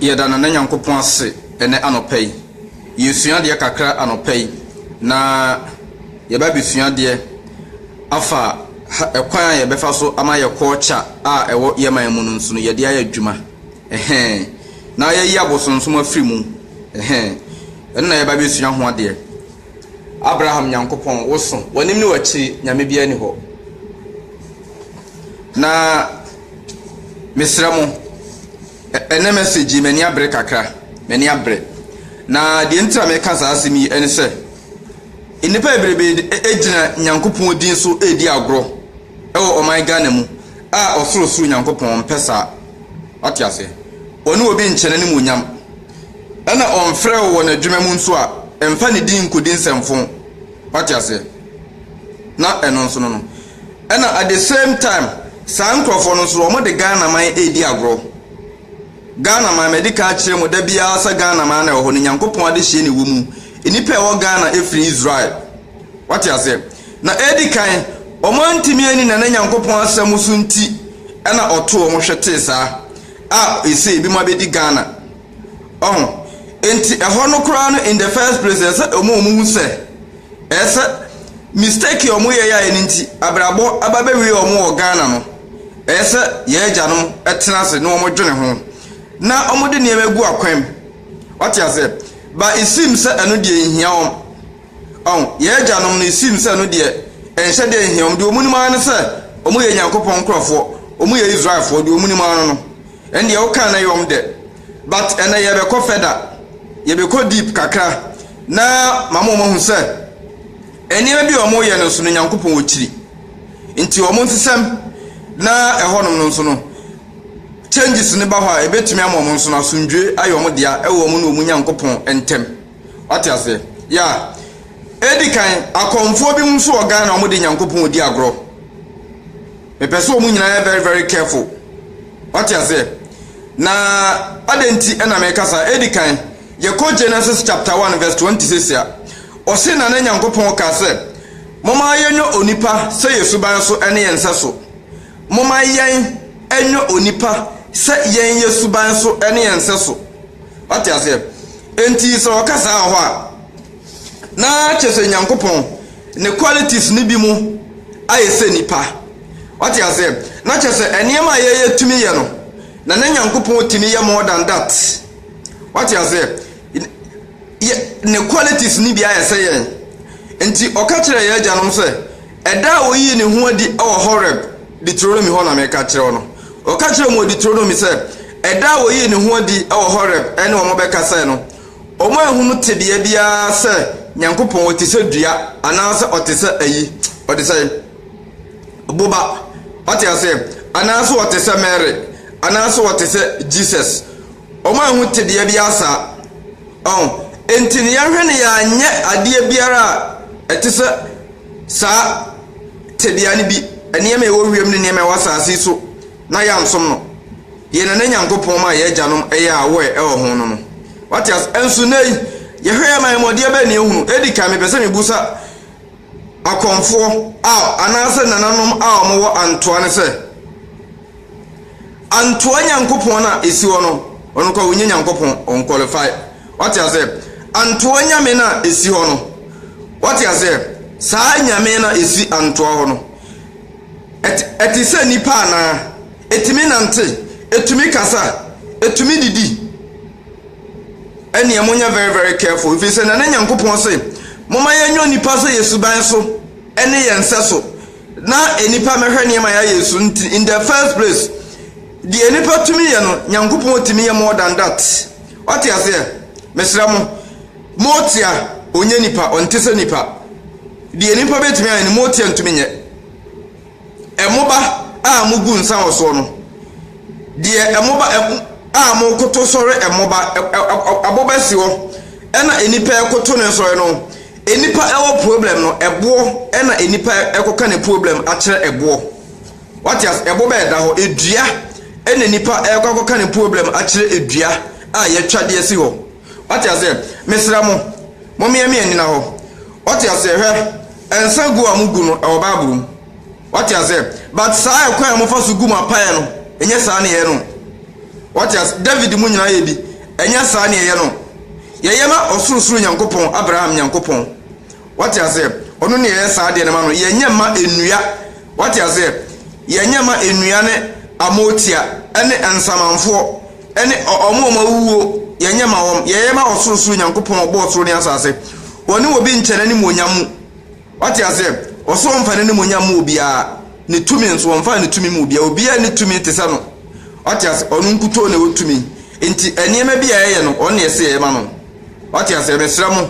Yɛda Nana Nyankopɔn ase ɛnɛ anɔpa yi. Yɛresua adeɛ kakra anɔpa yi, na yɛba abɛsua adeɛ afa ɛkwan a yɛbɛfa so ama yɛ culture a ɛwɔ yɛ man mu no nso no yɛde ayɛ adwuma. Ɛhɛn. Na yɛyi abosonsom afiri mu. Ɛhɛn. Ɛno na yɛba abɛsua ho adeɛ. Abraham Nyankopɔn, woso, w'anim ne w'akyiri, nyame biara ni hɔ. Na Mesrɛ mo, ɛnnɛ message yi m'ani abere kakra, m'ani abere. Na deɛ nti a meka saa asɛm yi ne sɛ, nnipa bebrebe gyina Nyankopɔn din so redi agorɔ wɔ ɔman Ghana mu a ɔsorosoro Nyankopɔn mpɛ saa. Wate aseɛ? Ɔne obi nkyɛ n'animuonyam. Ɛna ɔmfrɛ wo wɔ n'adwuma mu nso a, mfa ne din nkɔdi nsɛmfo. Wate aseɛ? Na ɛno nso no no. Ɛna at the same time saa nkorɔfoɔ no nso wɔn de Ghana man ɛredi agorɔ. Ghana man madi kan akyerɛ mu da biara sɛ Ghana man na ɛwɔ hɔ no Nyankopɔn adehyeɛ na ɛwɔ mu. Nnipa ɛwɔ Ghana ɛfiri Israel. Wate aseɛ? Na ɛdi kan wɔn antumi anni Nana Nyankopɔn asɛm so nti ɛna ɔtoo wɔn hwetee saa a ɛsei ɛbinom abɛdi Ghana. Ɔho. Enti ɛhɔ no koraa no in the first place no ɛsɛ ɔmo a ɔmo hu sɛ ɛsɛ mistake a ɔmo yɛ yɛ a ɛno nti abirabɔ aba bɛ wie ɔmo wɔ Ghana no ɛsɛ yɛn agyanom ɛtena ase na ɔmo dwene ho na ɔmo de nneɛma gu akwan mu wate aseɛ but it seems sɛ ɛno deɛ nhia wɔn. Ɔho, yɛn agyanom no, esiim sɛ ɛno deɛ ɛnhyɛ da nhia wɔn, deɛ wɔnim ara ne sɛ wɔyɛ Nyankopɔn nkorɔfoɔ, wɔyɛ Israelfoɔ, deɛ wɔnim ara no, ɛno deɛ woka no yɛ wɔn dɛ. But ɛnnɛ yɛrebɛkɔ further, yɛbɛkɔ deep kakra, na mama wɔn ahu sɛ nneɛma bi a wɔyɛ no nso no Nyankopɔn wɔ akyiri. Nti wɔn nsesɛm na ɛhɔnom no nso no, changes no ba hɔ a, ɛbɛtumi ama wɔn nso no asomdwoe ayɛ wɔn dea ɛwɔ wɔn ne wɔn Nyankopɔn ntam. Wate aseɛ? Yeah. Edi kan, akɔmfoɔ bi nso wɔ Ghana a wɔde Nyankopɔn di agorɔ. Mepɛ sɛ wɔn nyinaa yɛ very very careful. Wate aseɛ? Na adɛn nti na meka saa? Edi kan, yɛkɔ Genesis chapter 1 verse 20 sɛsi a, ɔse na ne Nyankopɔn ka sɛ, Momma yɛnyɛ onipa sɛ yɛn suban so ne yɛn nsɛ so. Momma yɛn nyɛ onipa sɛ yɛn yɛn suban so ne yɛn nsɛ so. Wate aseɛ? Enti sɛ ɔka saa wɔ hɔ a, na kyerɛ sɛ Nyankopɔn ne qualities no bi mu ayɛ sɛ nipa. Wate aseɛ? Na kyerɛ sɛ nneɛma a yɛyɛ tumi yɛ no, na na Nyankopɔn tumi yɛ more than that. Wate aseɛ? Yɛ, ne qualities no bi ayɛ sɛ yɛn. Enti ɔka kyerɛɛ yɛn agyanom sɛ, Ɛda a oyii ne ho adi wɔ Horeb Deuteronomy hɔ na meka kyerɛ wo no. Ɔka kyerɛɛ wɔn wɔ Deuteronomy sɛ, ɛda a oyii ne ho adi wɔ Horeb ne wɔn bɛkasae no, wɔanhu no tebea biara sɛ Nyankopɔn, ɔte sɛ dua, anaasɛ ɔte sɛ ayi, ɔte sɛ boba, wate aseɛ, anaasɛ ɔte sɛ Mary, anaasɛ ɔte sɛ Jesus. Wɔanhu tebea biara saa. Ɔn, enti ne yɛhwɛ no yɛanyɛ adeɛ biara a ɛte sɛ Saa tebea no bi, nneɛma a ɛwɔ wiem ne nneɛma a ɛwɔ asase so, na yɛansom no. Yɛn Nana Nyankopɔn maa yɛn agyanom yɛɛ aware wɔ ho no no. Wate ase? Nso nnɛyi, yɛhwɛ yɛn mayɛmɔdeɛ bɛn na yɛhunu? Edi kan, mepɛ sɛ mebisa akɔmfoɔ a, anaasɛ nananom a wɔwɔ antoa no sɛ. Antoa Nyankopɔn no a esi hɔ no, ɔno koraa ɔnnyɛ Nyankopɔn, ɔnqualify. Wate aseɛ? Antoa Nyame no a esi hɔ no, wate aseɛ? Saa Nyame no a esi Antoa hɔ no, ɛte, ɛte sɛ nipa anaa? Etumi nante, etumi kasa, etumi didi. Ɛneɛ monyɛ very very careful, ɛfiri sɛ Nana Nyankopɔn se, momma yɛnyɛ onipa sɛ yɛn suban so ne yɛn sɛso. na nnipa mmɛhwɛ nneɛma a yɛayɛ yi so nti in the first place deɛ nnipa tumi yɛ no nyankopɔn tumi yɛ more than that wate aseɛ mesrɛ mo motia ɔnyɛ nipa ɔnte sɛ nipa deɛ nipa bɛtumi ayɛ no motia ntumi nyɛ ɛmoba a mogu nsa wɔ soɔ no deɛ ɛmoba a mokoto sɔre ɛmoba aboba si hɔ ɛna nnipa ɛkoto ne nsɔre no Nipa ɛwɔ problem no ɛboɔ ɛna nipa ɛkɔka ne problem akyerɛ ɛboɔ wate as ɛboɔ bɛyɛ da hɔ ɛdua ɛna nipa ɛkɔ akɔka ne problem akyerɛ ɛdua a yɛtwa deɛ si hɔ wate as mesrɛ mo mo meɛmeɛ nyina hɔ wate as hwɛ ɛnsa gu a mo gu no ɛwɔ bible mu. Wate aseɛ? But saa ɛkwan a mofa so gu mo apaeɛ no, ɛnyɛ saa na yɛyɛ no. Wate aseɛ? David mo nyinaa yɛ bi, ɛnyɛ saa na yɛyɛ no. Yɛyɛ ma ɔsorosoro Nyankopɔn, Abraham Nyankopɔn. Wate aseɛ? Ɔno na yɛyɛ saa adeɛ no ma no, yɛnyɛ mma nnua. Wate aseɛ? Yɛnyɛ mma nnua ne amootia, ɛne nsamanfoɔ, ɛne ɔ, ɔmo a wɔawuo, yɛnyɛ ma wɔn. Yɛyɛ ma ɔsorosoro Nyankopɔn a ɔbɔɔ soro ne asase. Ɔne obi nkyɛ n'animuonyam mu. Wate aseɛ? Ɔse ɔmfa n'animuonyam mma obiara, ne tumi nso ɔmfaa ne tumi ma obiara, obiara nni tumi te sɛ no, wate aseɛ, ɔno nkutoo na ɛwɔ tumi, nti nneɛma bi a yɛyɛ no ɔno na yɛse yɛyɛ ma no, wate aseɛ, mesrɛ mo,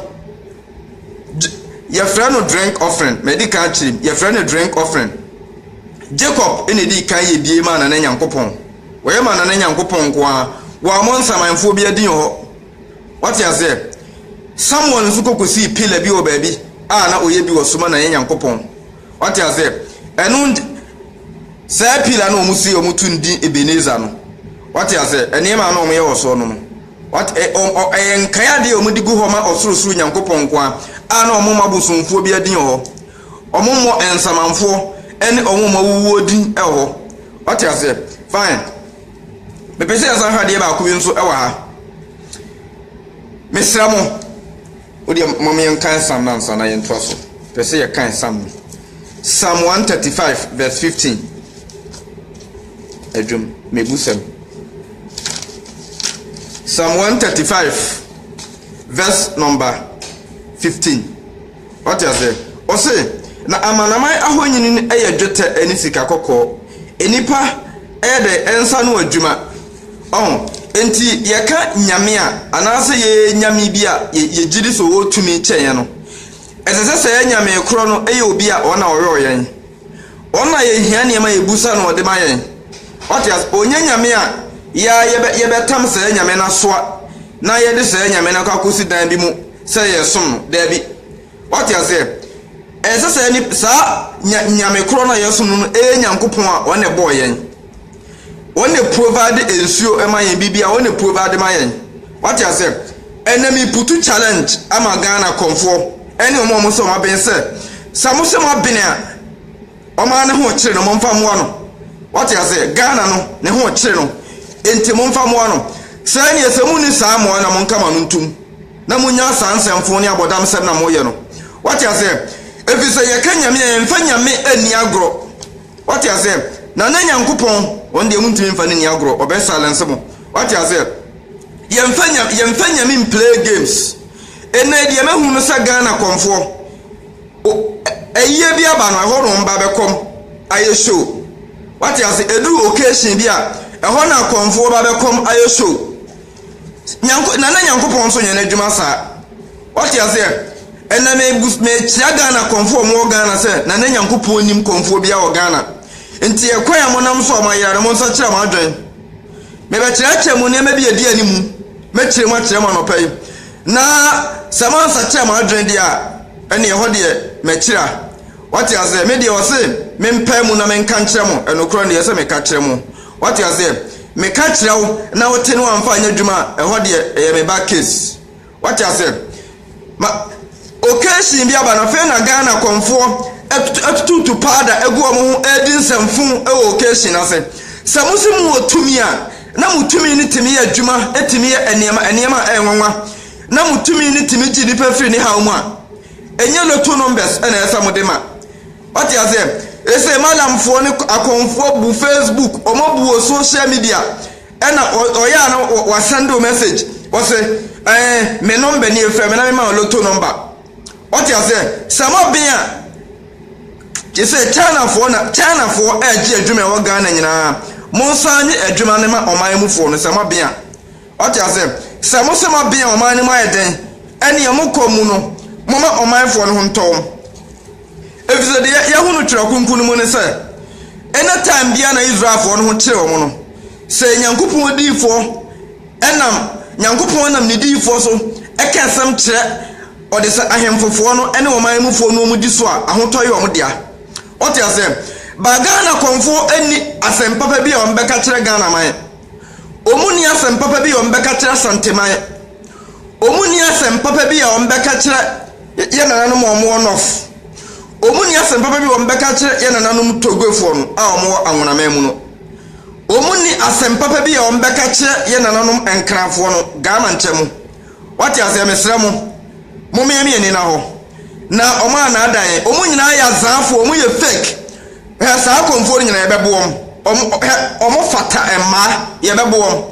Gy yɛfrɛ no drink offering, madi kan akyerɛ mu, yɛfrɛ no drink offering, Jacob na ɛdii kan yɛ bie maa Nana Nyankopɔn, wɔyɛ maa Nana Nyankopɔn nko ara, wɔammɔ nsamanfoɔ biara din wɔ hɔ. Wate aseɛ? Samuel nso kɔ kɔsii pillar bi wɔ baabi a na ɔyɛ bi wɔ so ma na yɛ Nyankopɔn. Wate aseɛ? Ɛno nti, saa pillar na wɔn si wɔn tu ndi Ebenezer no. Wate aseɛ? Nneɛma a na wɔyɛ wɔ soɔ no no. Wate, ɛ, ɔ, ɔ, ɛyɛ nkae adeɛ a wɔn de gu hɔ ma ɔsorosoro Nyankopɔn nko a, a na wɔn mma bosomfoɔ bi adin wɔ hɔ. Wɔn mmɔ nsamanfoɔ ɛne wɔn mma wuwuo din wɔ hɔ. Wate aseɛ? Fine. Mepɛ sɛ yɛsan hwɛ adeɛ baako bi nso wɔ ha. Mesrɛ mo, wodeɛ mom yɛnkan Psalm no ansa na yɛntoa so. Pɛ sɛ yɛkan Psalm no. Psalm 135 verse 15. Adwom, mebu sɛm. Psalm 135 verse number 15. Wate ase? Ɔse, Na amanaman ahoni no yɛ dwetɛ ne sika kɔkɔɔ. Nnipa yɛ dɛn? Nsa ano adwuma. Ɔho? Enti yɛka Nyame a, anaasɛ yɛyɛ Nyame bi a yɛgyedi sɛ ɔwɔ tumi kyɛn yɛn no, ɛsɛ sɛ saa Nyame korɔ no yɛ obi a ɔno na ɔyɔɔ yɛn. Wɔn na yɛhia nneɛma a yɛbu sɛ na ɔde ma yɛn. Wate ase? Ɔnyɛ nyame a yɛ a yɛbɛ, yɛbɛtam saa nyame no asoa na yɛde saa nyame no akɔ akɔsi dan bi mu sɛ yɛresom no. Daabi. Wate aseɛ? Ɛnsɛ saa nip, saa nya, nyame korɔ no a yɛsom no no yɛ Nyankopɔn a ɔne bɔɔ yɛn. Wɔn na provide nsuo ma yɛn biribiara wɔn na provide ma yɛn wate asɛ ɛnna mi putu challenge ama Ghana kɔnfoɔ ɛne wɔn a wɔn sɛ wɔn abɛn sɛ sɛ wɔn sɛ wɔn abɛn a wɔn ara ne ho kyerɛ no wɔn mfa mmoa no wate asɛ Ghana no ne ho kyerɛ no nti wɔn mfa mmoa no sɛ ɛne sɛ wɔn ni saa mmoa na wɔn nka ma no ntum na wɔn nya saa nsɛmfo ne abɔdam sɛm na wɔn yɛ no wate asɛ efisɛ yɛ ka nyame a yɛn fa nyame ani agorɔ. Wate aseɛ? Na na Nyankopɔn, wɔn deɛ montumi mfa no nni agorɔ, Ɔbɛ silence mo. Wate aseɛ? Yɛmfa Nya, yɛmfa Nyame mplay games. Ɛnnɛ yi deɛ mahu no sɛ Ghana kɔmfoɔ, o, ɛ, ayie bi aba no, ɛhɔ na wɔn ba bɛkɔm ayɛ show. Wate aseɛ? Ɛduru occasion bi a, ɛhɔ na akɔmfoɔ ba bɛkɔm ayɛ show. Nyanko Nana Nyankopɔn nso nyɛ n'adwuma saa. Wate aseɛ? Ɛnna mebu mekyia Ghana kɔmfoɔ a wɔwɔ Ghana sɛ Nana Nyankopɔn nim kɔmfoɔ biara wɔ Ghana. Nti ɛkwan a monam so a moayera no monsakyera mo adwene. Mebɛkyerɛkyerɛ mo nneɛma bi a ɛdi anim. Mɛkyerɛ mu akyerɛ mo anɔpa yi. Na sɛ moansakyera mo adwene deɛ a, ɛnneɛ ɛhɔ deɛ makyira. Wate aseɛ? Me deɛ wɔse mempaa mu na menka nkyerɛ mo, ɛnokorɛ no deɛ ɛsɛ sɛ meka kyerɛ mo. Wate aseɛ? Meka kyerɛ wo na wote na wamfa anyɛ adwuma a, ɛhɔ deɛ ɛyɛ me ba case. Wate aseɛ? Ma occasion bi aba no, afei na Ghana kɔmfoɔ atu- atututu powder agu wɔn ho ɛredi nsɛmfo wɔ occasion no ase. Sɛ mo se mo wɔ tumi a, na mo tumi no tumi yɛ adwuma, ɛtumi yɛ nneɛma, nneɛma a ɛyɛ nwanwa, na mo tumi no tumi gye nipa firi ne haw mu a, Ɛnyɛ lotto numbers na ɛsɛ sɛ mode ma. Wate aseɛ? Ɛsɛ malamfoɔ ne akɔnfoɔ bu Facebook, wɔn abu wɔ social media. Ɛna ɔyɛ a na wasɛnde wo message. Wɔse ɛɛ me number nie fɛ me na mema wo lotto number. Wate aseɛ? Sɛ mɔben a gye sɛ Chinafoɔ na Chinafoɔ ɛregye adwuma ɛwɔ Ghana nyinaa. Monsan nye adwuma no ma ɔman mufoɔ no sɛ mɔben a. Wate aseɛ? Sɛ mo sɛ moabea ɔman no mu ayɛ dɛn, ɛneɛ mokɔ mu no, momma ɔmanfoɔ no ho ntɔ wɔn. Ɛfiri sɛ deɛ yɛahu no Twerɛ Kronkron no mu ne sɛ, ɛnyɛ time biara na Israelfoɔ no ho kyere wɔn no. Sɛ Nyankopɔn odiyifoɔ nam, Nyankopɔn nam ne diyifoɔ so ka asɛm kyerɛ ɔde sɛ ahemfofoɔ no ne ɔman mufoɔ no wɔn di so a, ahotɔ yɛ wɔn dea. Wate aseɛ? Ba Ghana kɔmfoɔ nni asɛm papa bi a wɔbɛka kyerɛ Ghana man. wɔnni asɛm papa bi a wɔbɛka akyerɛ Asanteman, wɔnni asɛm papa bi a wɔbɛka akyerɛ yɛn nananom a wɔwɔ North, wɔnni asɛm papa bi a wɔbɛka akyerɛ yɛn nananom Togofoɔ no a wɔwɔ Anwonaman mu no. Wɔnni asɛm papa bi a wɔbɛka akyerɛ yɛn nananom Nkranfoɔ no, Ghana nkyɛn mu. Wate aseɛ? Mesrɛ mo, mommeamia ani nna hɔ. na ɔmo anaadaa yɛn. Ɔmo nyinaa yɛ adzaafo, ɔmo yɛ fake. Hwɛ saa akɔmfoɔ no nyinaa yɛbɛbo wɔn. Ɔmo hwɛ ɔmo fata mmaa yɛbɛbo wɔn.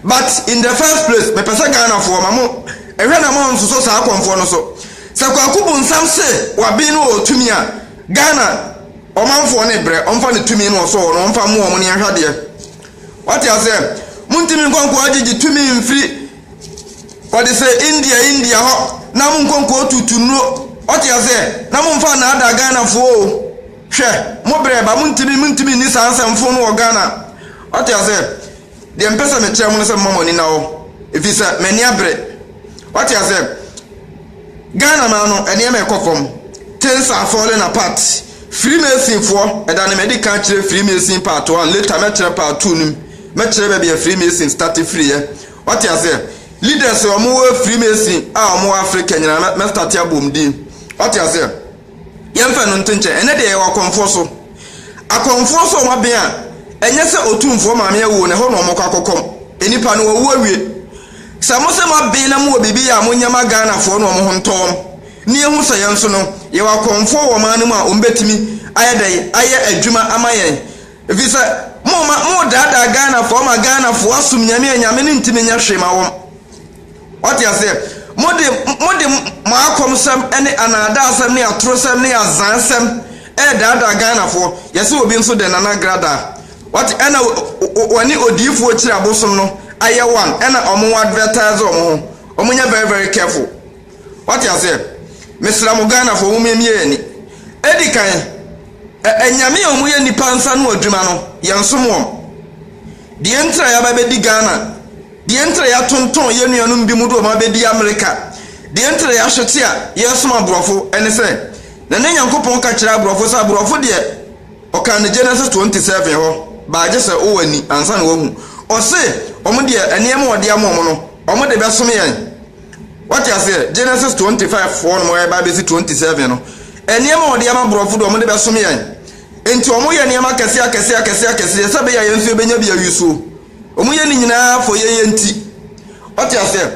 But in the first place mepɛ sɛ Ghanafoɔ ma mo hwɛ na mo nsoso saa akɔmfoɔ no so. Sɛ Kwaku Bonsam se waben no wɔ tumi a, Ghana ɔmanfoɔ no brɛ ɔmfa ne tumi no ɔsɔ hɔ no ɔmfa mo wɔn ne yɛnhwɛ adeɛ. Wate aseɛ? Montumi nkɔ nkoa gyegye tumi mfiri Wɔde sɛ India India hɔ na mo nkɔ nkɔ tutu nnuro wate aseɛ na mo nfa nnaadaa Ghana foɔ o hwɛ mo brɛ ba mo ntumi mo ntumi nni saa nsɛm fo no wɔ Ghana wate aseɛ deɛ mpɛ sɛ mekyerɛ mo no sɛ mma mo ani na hɔ ɛfiri sɛ m'ani abere wate aseɛ Ghana maa no nneɛma ɛkɔ fam things are falling apart Freemason foɔ ɛda ne mɛdi kan kyerɛ Freemason part one later mɛkyerɛ part two no mu Mɛkyerɛ baabi a Freemason starte firi ɛ. Wate aseɛ? Leaders a wɔwɔ Freemason a wɔwɔ Africa nyinaa mɛ, mɛ starte abɔ wɔn din. Wate aseɛ? Yɛmfa no nto nkyɛn. Ɛnɛ deɛ yɛwɔ akɔmfoɔ so. Akɔmfoɔ so a wɔaben a, ɛnyɛ sɛ otumfoɔ maame awuo na ɛhɔ na wɔkɔ akɔkɔm. Nnipa no wɔwu awie. Sɛ mo sɛ moaben na mowɔ biribi yɛ a, monyɛ ma Ghanafoɔ no wɔn ho ntɔ wɔn. Na yɛhu sɛ yɛn nso no, yɛwɔ akɔmfoɔ wɔ ɔman no mu a wɔbɛtumi ayɛ dɛn ayɛ adwuma ama yɛn. Efisɛ moma modaadaa Ghanafoɔ ma Ghanafoɔ asom Nyame a Nyame no ntimi nyɛ hwee ma wɔn. Wate aseɛ? Mode, mode mo akɔmsɛm ne anaadaasɛm ne atorosɛm ne azansɛm ɛredaadaa Ghanafoɔ. Yɛse obi nso dɛn, Nana Gradaa? Wate, ɛna wɔne odiyifoɔ Kyiri Abosom no ayɛ one, ɛna wɔn advertise wɔn ho. Wɔnyɛ very very careful. Wate aseɛ? Mesrɛ mo Ghanafoɔ mo mmie yɛn ani. Edikan, Anyame a wɔyɛ nnipa nsa ano adwuma no, yɛnsom wɔn. Deɛ nti a yɛaba abɛdi Ghana, deɛ nti a yɛatontɔn yɛn nuanom binom de wɔn abɛdi Amerika, deɛ nti a yɛahwete a yɛresom aborɔfo ne sɛ, na na Nyankopɔn ka kyerɛ aborɔfo sɛ aborɔfo deɛ ɔkaa no Genesis 27 hɔ, baa gye sɛ wowɔ ani ansa na woahu. Ɔse wɔn deɛ nneɛma a ɔde ama wɔn no, wɔde bɛsom yɛn. Wate aseɛ? Genesis 25 foɔ nom ɛba abɛsi 27 no, nneɛma a ɔde ama borɔfo de wɔde bɛsom yɛn. Nti wɔyɛ nneɛma akɛseɛ akɛseɛ akɛseɛ akɛseɛ sɛ ɛbɛyɛ a yɛn nso yɛbɛnya bi awie so. Wɔyɛ ne nyinaa for yɛn yɛn nti. Wate aseɛ?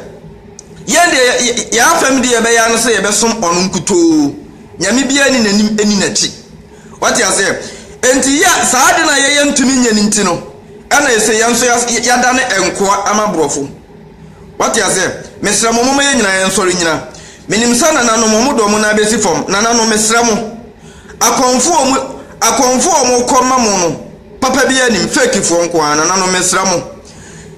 Yɛn deɛ yɛ- yɛ- yɛn afam deɛ yɛbɛyɛ ara ne sɛ yɛbɛsom ɔno nkutoo. Nyame biara ni n'anim ɛni n'akyi. Wate aseɛ? Nti yɛ saa de no a yɛyɛ ntumi nyɛ no nti no, ɛna ɛsɛ yɛn nso yɛas- yɛadane nkoa ama borɔfo. Wate aseɛ? Mesrɛ mo, momma yɛn nyinaa yɛnsɔre nnyina. Menim sɛ nananom, wɔn de wɔn nan bɛsi fam. Nananom, mesrɛ mo. Akɔmfoɔ a wɔn, akɔmfoɔ a wɔkɔ ma mo no, papa biara nnim, fakefoɔ nko ara. Nananom, mesrɛ mo.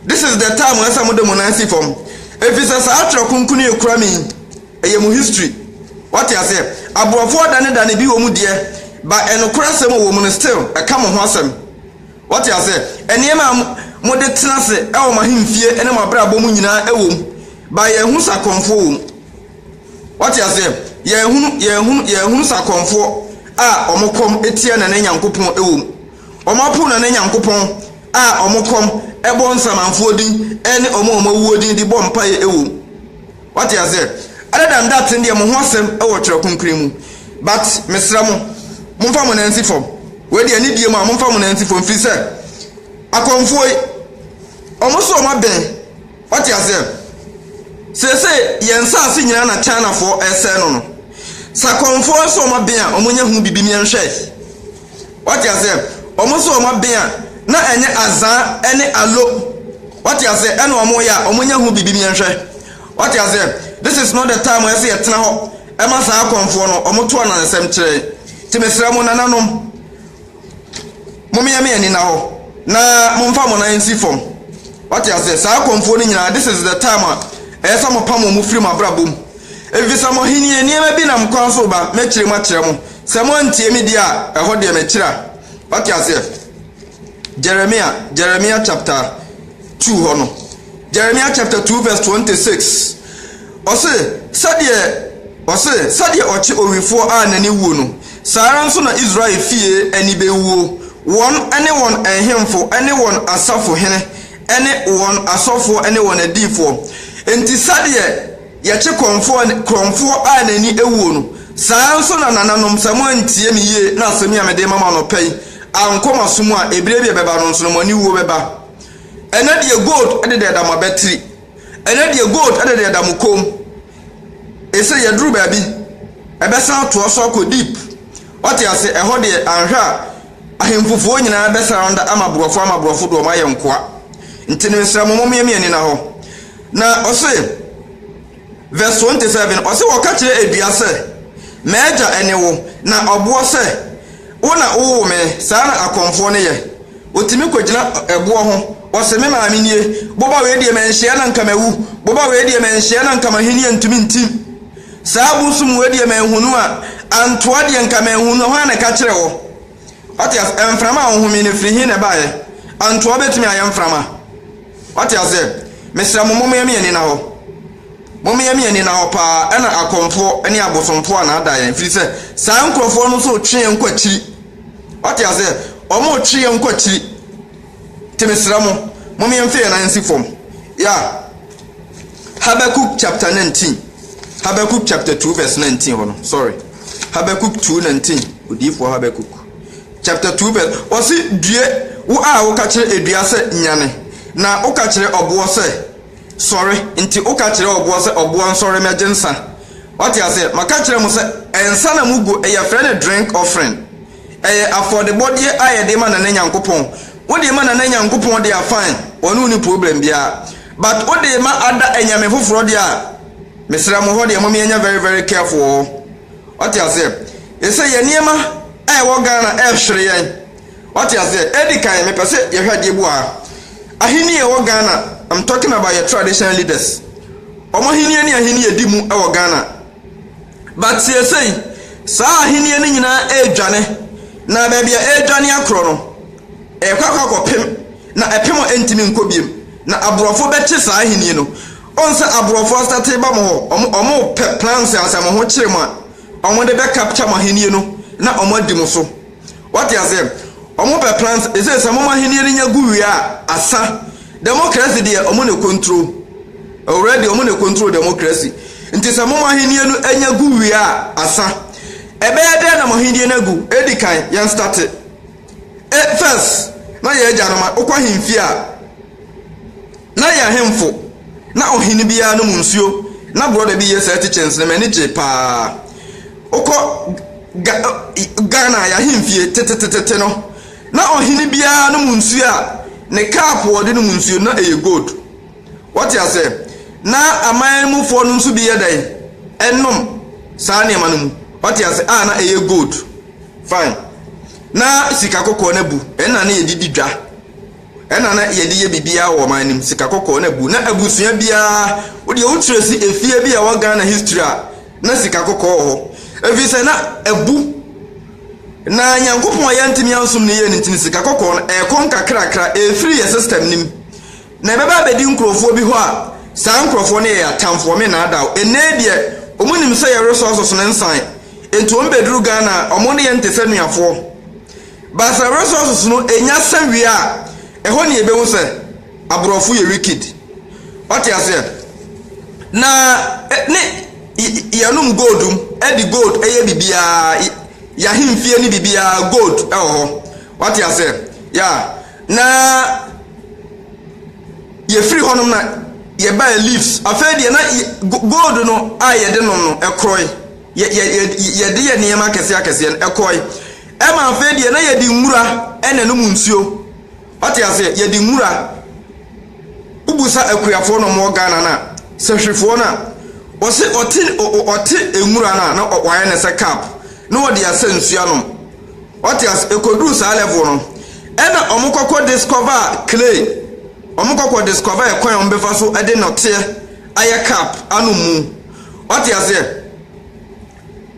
This is the time a ɛsɛ sɛ mode mo nan si fam. Ɛfiri sɛ saa Twerɛ Kronkron yi kura me yi, ɛyɛ mo history. Wate aseɛ? Aborɔfoɔ adanedane bi wɔ mu deɛ, but ɛnokorɛ asɛm a ɛwɔ mu no, still, ɛka mo ho asɛm. Wɔte aseɛ. Nneɛma a mode tena ase wɔ mo ahemfie ne mo abrabɔ mu nyinaa wɔ mu, but yɛnhunu sɛ akɔmfoɔ wɔ mu. Wɔte aseɛ. Yɛnhunu, yɛnhunu, yɛnhunu sɛ akɔmfoɔ a wɔn kɔm tia Nana Nyankopɔn wɔ mu. Wɔn apo Nana Nyankopɔn a wɔn kɔm bɔ nsamanfoɔ din ne wɔn a wɔn awuo din de bɔ mpaeɛ wɔ mu. Wate aseɛ? Other than that no deɛ mo ho asɛm wɔ twerɛ kronkron mu. But mesrɛ mo, momfa mo nan nsi fam. Wei deɛ ne die mu a momfa mo nan nsi fam firi sɛ akɔmfoɔ yi wɔn so wɔn abɛn. Wate aseɛ? Seesei yɛn nsaase nyinaa na Chinafoɔ ɛresɛe no no. Sɛ akɔmfoɔ so wɔn abɛn a wɔnyɛ ho biribi ne yɛnhwɛ. Wate aseɛ? Wɔn nso wɔn aben a, na ɛnyɛ azaa ɛne alo. Wate aseɛ? Ɛna wɔn reyɛ a, wɔnyɛ ho biribi yɛnhwɛ. Wate aseɛ? This is not the time a ɛsɛ yɛtena hɔ ɛma saa akɔmfoɔ no, wɔn to ananasɛm kyerɛ yɛn. Nti mesrɛ mo nananom, momeɛ me ani nna hɔ, na momfa mo nan nsi fam. Wate aseɛ? Saa akɔmfoɔ no nyinaa, this is the time a ɛyɛ sɛ mopam wɔn firi mo abrabɔ mu. Ɛfiri sɛ mo ahennie nneɛma bi nam kwan so reba, mɛkyerɛ mu akyerɛ mo. Sɛ moantie me deɛ a, ɛhɔ deɛ mɛkyera. Wate aseɛ? Jeremia, Jeremia chapter 2 hɔ no. Jeremia chapter 2 verse 26. Ɔse, sɛdeɛ, ɔse, sɛdeɛ ɔkye owifoɔ a n'ani wuo no, saa ara nso na Israel fie ani bɛwuo, wɔn ne wɔn nhemfo ne wɔn asafohene ne wɔn asɔfoɔ ne wɔn adiyifoɔ. Enti sɛdeɛ. Yɛkye korɔmfoɔ korɔmfoɔ a n'ani awuo no, saa ara nso na nananom, sɛ moantie me yie na asɛm yi a mede rema mo anɔpa yi ankɔ mo aso mu a, ɛberɛ bi a ɛbɛba no nso no, mo ani wuo bɛba. Ɛnnɛ deɛ gold de deɛ da mo abatiri, ɛnnɛ deɛ gold de deɛ da mo kɔn mu. Ɛsɛ yɛduru baabi, ɛbɛsan atoa so akɔ deep. Wate ase, ɛhɔ deɛ anhwɛ a ahemfufoɔ nyinaa bɛsan ada ama borɔfo ama borɔfo de wɔn ayɛ nkoa. Nti no mesrɛ mo, mommeɛ me ani na hɔ. Na ɔse, verse 27, ɔse wɔka kyerɛ adua sɛ, M'agya ɛne wo, na ɔboɔ sɛ, Wo na wowoo me, saa na akɔmfoɔ no yɛ, ɔtumi kɔgyina ɛboɔ ho, ɔse, Me maame nie, boba wei deɛ manhyia na nka mawu, boba wei deɛ manhyia na nka m'ahennie ntumi ntim, saa bosom wei deɛ manhunu a, antoa deɛ nka manhunu a, hwan na ɛka kyerɛ wo? Wate aseɛ? Mframa a wohome no, ɛfiri he na ɛbaeɛ? Antoa bɛtumi ayɛ mframa. Wate aseɛ? Mesrɛ mo, mommeɛ me ani nna hɔ. Mommeɛ me ani nna hɔ pa ara, ɛna akɔmfoɔ ne abosomfoɔ a na ada yɛn, ɛfiri sɛ, saa nkurɔfoɔ no nso retwe yɛn kɔ akyiri. Wate aseɛ? Wɔretwe yɛn kɔ akyiri. Nti mesrɛ mo, mom yɛmfa yɛn nan nsi fam. Yeah. Habakkuk chapter 19. Habakkuk chapter 2 verse 19 hɔ no. Sorry. Habakkuk 2 19. Odiyifoɔ Habakkuk. Chapter 2 verse. Wɔse due wo a woka kyerɛ edua sɛ nyane, na woka kyerɛ ɔboɔ sɛ sɔre. Nti woka kyerɛ ɔboɔ sɛ ɔboɔ nsɔre mɛgye nsa. Wate aseɛ? Maka kyerɛ mo sɛ nsa na mugu, yɛfrɛ no drink offering. Ɛyɛ afɔdebɔdeɛ a yɛde ma Nana Nyankopɔn. Wode ma Nana Nyankopɔn deɛ a fine, ɔne wo nni problem biara. But wode ma ada anyame foforɔ deɛ a, mesrɛ mo hɔ deɛ mom yɛnyɛ very very careful wɔ hɔ. Wate aseɛ? Ɛsɛ yɛn nneɛma a ɛwɔ Ghana ɛrehwere yɛn. Wate aseɛ? Edi kan mepɛ sɛ yɛhwɛ adeɛ bi wɔ ha. Ahenni a ɛwɔ Ghana, I'm talking about yɛn traditional leaders. Wɔn ahenni ne ahenni a ɛdi mu wɔ Ghana. But seesei, saa ahenni no nyinaa redwane, na baabi a ɛredwane akorɔ no, ɛrekɔ akɔ akɔpem, na ɛpem a ɛntumi nkɔ bio. Na aborɔfo bɛkye saa ahenni no. Wohu sɛ aborɔfo astate ba mo hɔ, wɔn, wɔpɛ plans a sɛ mo ho kyere mo a, wɔde bɛ capture mo ahenni no na wɔadi mo so. Wate aseɛ? Ɔmo pɛ plans ɛsei sɛ ɔmo ahennie no nya gu wie a asa democracy deɛ ɔmo na ɛkontro already ɔmo na ɛkontro democracy nti sɛ ɔmo ahennie no nya gu wie a asa ɛbɛyɛ dɛn na ɔmo ahennie no agu edi kan yɛn starte first na yɛn agya no ma wokɔ ahenfie a Na yɛn ahemfo, na ohene biara nom nsuo, na brɔda bi yɛ saa ti kyɛnsee no, m'ani gyee pa ara. Wokɔ Ga Ghana a, yɛn ahemfie, tetetetete no, na ohene biara nom nsuo a, ne cup a ɔde nom nsuo no, na ɛyɛ gold. Woate aseɛ? Na aman mufoɔ no nso bi yɛ dɛn? Ɛnom saa nneɛma no mu. Woate aseɛ? A, na ɛyɛ gold. Fine. Na sika kɔkɔɔ no abu, ɛno na na yɛde di dwa. Ɛna na yɛde yɛ biribiara wɔ ɔman no mu, sika kɔkɔɔ na bu, na abusua biara wodeɛ wo kyerɛ si efie bi a ɛwɔ Ghana history a na sika kɔkɔɔ wɔ hɔ ɛfiri sɛ na abu na Nyankopɔn a yɛntumi ansom no yie no nti no sika kɔkɔɔ no ɛkɔ nkakrakra ɛfiri yɛ system no mu na ɛbɛba abɛdi nkurɔfoɔ bi hɔ a saa nkurɔfoɔ no yɛ yɛ atamfoɔ me naadaw ɛnɛ deɛ wɔn nim sɛ yɛ resources no nsan nti wɔn bɛduru Ghana a wɔn ne yɛn te sɛ nuafoɔ Baasra resources no nya sɛ wie a ɛhɔ na yɛbɛhu sɛ aborɔfo yɛ wicked ɔte aseɛ na ne yɛnom gold mu ɛde gold ɛyɛ biribiara yɛahemfie ne biribiara gold ɛwɔ hɔ ɔte aseɛ ya na yɛfiri hɔnom na yɛbaa leaves afei deɛ na gold no a yɛde nom no ɛkorɔe yɛde yɛ nneɛma akɛseɛ akɛseɛ no ɛkɔe Ɛma afei deɛ na yɛde nwura na ɛnom nsuo. Ɔte aseɛ, yɛde nwura. Wobusa akuafoɔ na wɔwɔ Ghana no a, sɛhwefoɔ no a, ɔse ɔte ɔte nwura no a na wayɛ ne sɛ cup na ɔde asɛ nsuo anom. Ɔte aseɛ, ɛkɔduru saa level no. Ɛna wɔn kɔkɔ discover clay. Wɔn kɔkɔ discover ɛkwan a wɔbɛfa so de nɔteɛ ayɛ cup anom mu. Ɔte aseɛ.